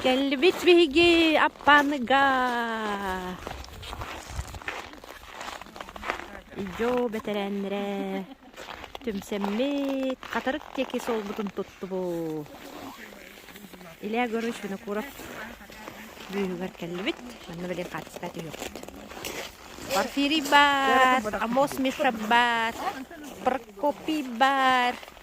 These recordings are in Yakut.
Кэллибит биһиги Аппааныга. Дьо бэтэрээннэрэ түмсэммит хатырык диэки суолбутун туттубут. Илья Егорович Винокуров бүүһүгэр кэллибит. Манна билин хаачыстыбат үһүгүт. Порфирий бар, Амос Миша бар, Прокопий бар.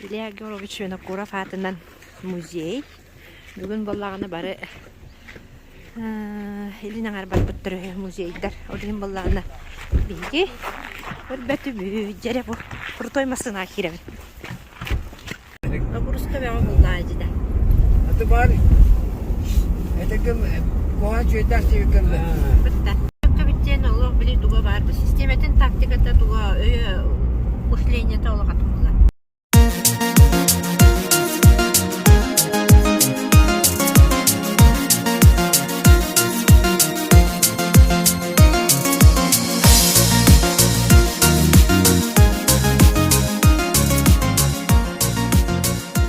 Илья Георгиевич Винокуров аатынан музей. Бүгүн буоллаҕына бары илин аҥарбатбыттар үһү музейдар. Ол иһин буоллаҕына биһиги өрбөтүбүт, дьэрэ крутой массыынаҕа киирэбит. Добрустовеҕа буллаҕа эттэ аты баар этигим куһа чүөтэх диэбиккин бүттэн олох били туга баарбы систиэмэтин тактиката туга өйө мышлениета олохатын була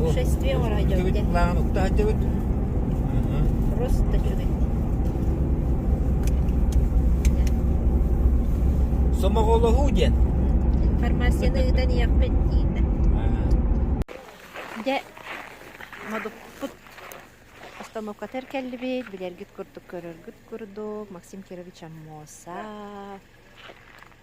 Үтүгүт былаан укта сылдьыбыт. Сомоҕолоһуу диэн. Фармацияны ыытан ийэппит диэтэ. Дьэ, модуппут остановкатар кэллибит, билэргит курдук, көрөргүт курдук, Максим Кирович Аммоса,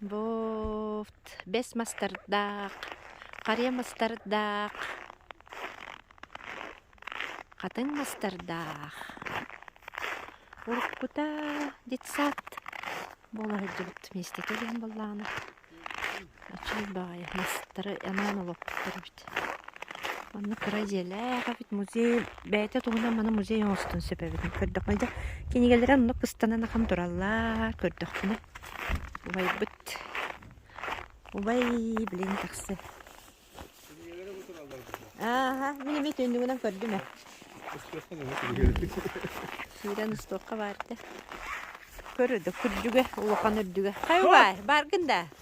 Бовт, бэс мастардаах, харыйа мастардаах, хатыҥ мастардаах, уруккута детсад буола сылдьыбыт миэстэтэ диэн буоллаҕына, очуй баҕайы мастары анаан олоппуттар эбит Манна кыра дьиэлээх эбит музей бэйэтэ туһунан маны музей оҥостон сөп эбитин көрдөххүнэ дьэ кинигэлэрэ оннук ыстанан ахан тураллар көрдөххүнэ убайбыт убай билигин тахса ааһа мин эмиэ түннүгүнэн көрдүм ээ киирэн устуохха баар да көр да күрдьүгэ улахан үрдүгэ хай бай баргын да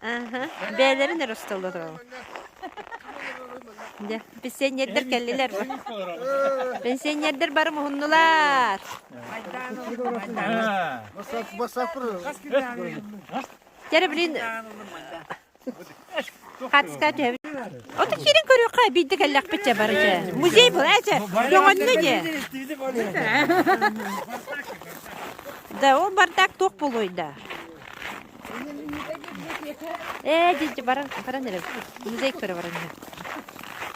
Аха, бэйэлэрин эрэ остоллор ол. Дьэ, пенсионердар кэллилэр. Пенсионердар бары муһуннулар. Бастапыр. Кері, блин, Хатска Отут сирин көрүөххэ биирдэ кэллэхпит дьэ бары дьэ. Музей была дьэ. Көҥөннө дьэ. Да ол бардак туох болойда. Э, дидж баран баран эрэ. Музей көрө баран.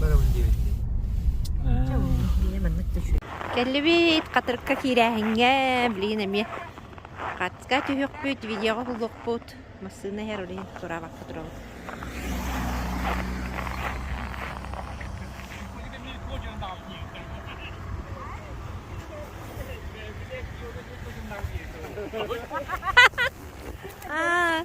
барабын диэбиттии Дьэ, онно билигин маннык да үчүгэй. Кэллибит хатырыкка киирээһиҥҥэ, билигин эмиэ хатска түһүөхпүт, видеоҕа булуохпут. Массыына иһэр олейн тураабакка турабыт. А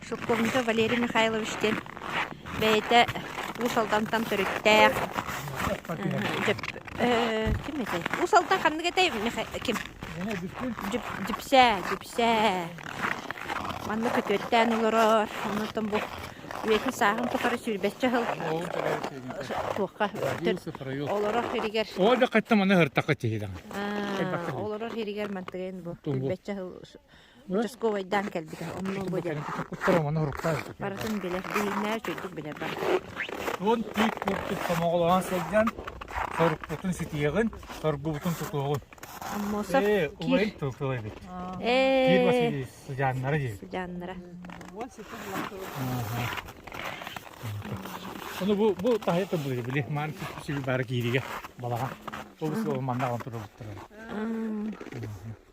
Сопковнига Валерий Михайлович диэн бэйэтэ Уус Алдантан төрүттээх. Ким этэй? Уус Алдан ханнык этэй? Ким? Дьүпсээ, Дьүпсээ. Манна көтүөттээн олорор. Онтон бу үйэтин сааһын тухары сүүрбэччэ сыл туохха олорор иһигэр олорор иһигэр мантыгын бу участковайдаан кэлбитэ онно бу дьэ куттара манна уруктаах барытын билэр биһиннээр чөйдүк билэр бар туон тиит курдук сомоҕолоон сылдьан сорукпутун ситиэҕин соргубутун тутуоҕун аммосов э убайын тылтыла эбит э киир василий сыдьааннара диэн сыдьааннара Оны бу бу тахайа турбулur били ман сиби бары киириге балаға. Тобус ол манна он турбуттар.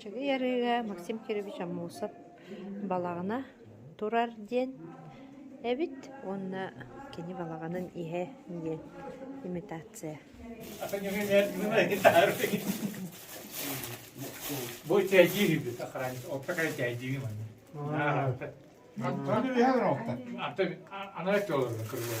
Чэгий Арыыга Максим Кирович Аммосов балаҕана турар диэн эбит уонна кини балаҕанын иһэ диэн имитация. Бу тәйдиир үбүт охранник опта кай тәйдиир маны. Антон үһэ охта. Ата ана төлөр кырылар.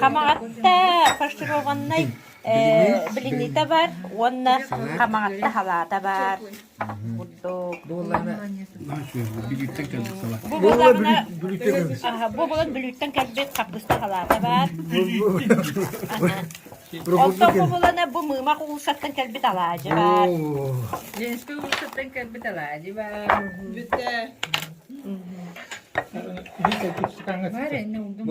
Хамаҕатта фаршированнай блинита бар уонна хамаҕатта халаата бар курдук. Бу балан бүлүүттэн кэлбит хапгыста халаата бар. Оттон Куһулана бу Мыымах уулуссаттан кэлбит алаадьы баар. Ленскэй уулуссаттан кэлбит алаадьы баар. Бүтэ. Бар энне улдум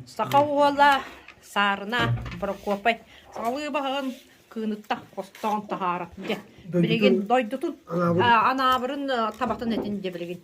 Саха уола Саарына Прокопай саҕалыы баһын кыыныттах хостоон таһаарат дьэ. Билигин дойдутун анаабырын табатын этин дьэ билигин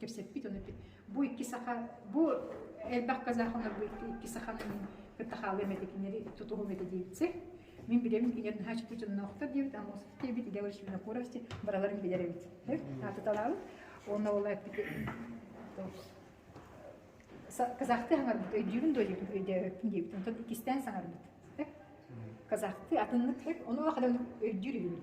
кэпсэппит ону бу икки саха бу элбэх казахалар бу икки саханы мин кытта хаалыам этэ кинилэри тутуһум этэ диэбитse мин билем кинер наһаа чутунноохтор диэбит ама диэбит идеология винокуровсти бараларын билер эбит атыталаабыт онно ол эппити казахты саңарбыт өйдүүрүн дойдутун өйдөөппүн диэбит онтон иккистээн саңарбыт казахты атыннык ону хадам өйдүүр үһүбүн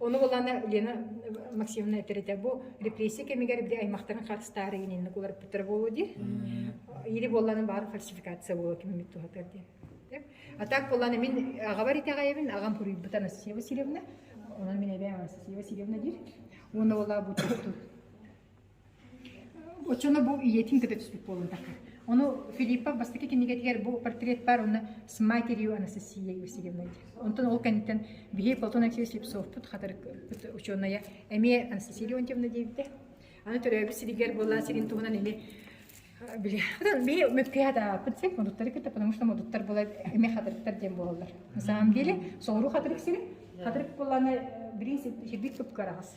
Ону булана Лена Максимовна этэритэ бу репрессия кэмигэр били аймактарын хатыстаары ининник уларыппыттара буолуо дии. Или болланы баар фальсификация буолуо киммит тухатар дии. А так болланы мин агабар итэҕайбин агам куруйбутан Асия Васильевна. Онон мин эбэм Асия Васильевна диир. Уна ола бу Оччону бу ийэтин кытта түспүт буолуохтаахха. Ону Филиппов бастакы кинигэтигэр бу портрет баар уонна «С матерью Анастасией Васильевной» Онтон ол кэнниттэн биһиги Платон Алексеевич Слепцовпут хатарык учуонайа эмиэ Анастасия Леонтьевна диэбитэ. Аны төрөөбүт сиригэр буоллаан сирин туһунан ини били биһи мүккү хатааппыт син модуттары кытта потому что модуттар булар эми хатырыктар диэн буолаллар. На самом деле соҕуруу хатырык сирэ хатырык буоллаана бириис сирбит көпкө араҕас.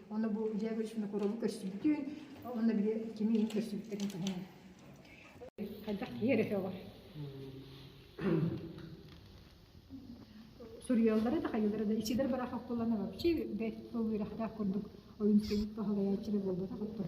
Онно бу Дьаа Гришина коруолу көрсүбүтүн, онно били кими иһин көрсүбүттэрин туһунан. Хайдах киһи эрэ сөҕөр. Суруйаллара да хайылара да исидер бараха оккуллана вообще бэт болуирахтаах курдук ойун синик пахалаяччыра буолбата хаппыт.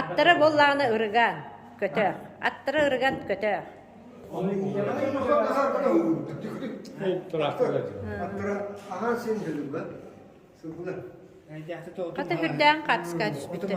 Аттара буоллаҕына ырыган, көтөөх. Аттара ырыган, көтөөх. Хата үрдээн хатска түспүттэр.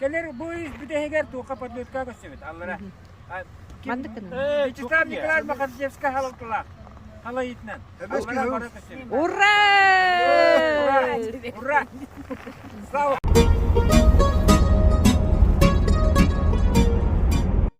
Кэлэр бу үс бүтэһигэр туохха подметка көстөбүт аллара. Маннык гына. Числав Николаевич Махарзевскай халалтылаах. Халайытынан. Ура! Ура! Слава!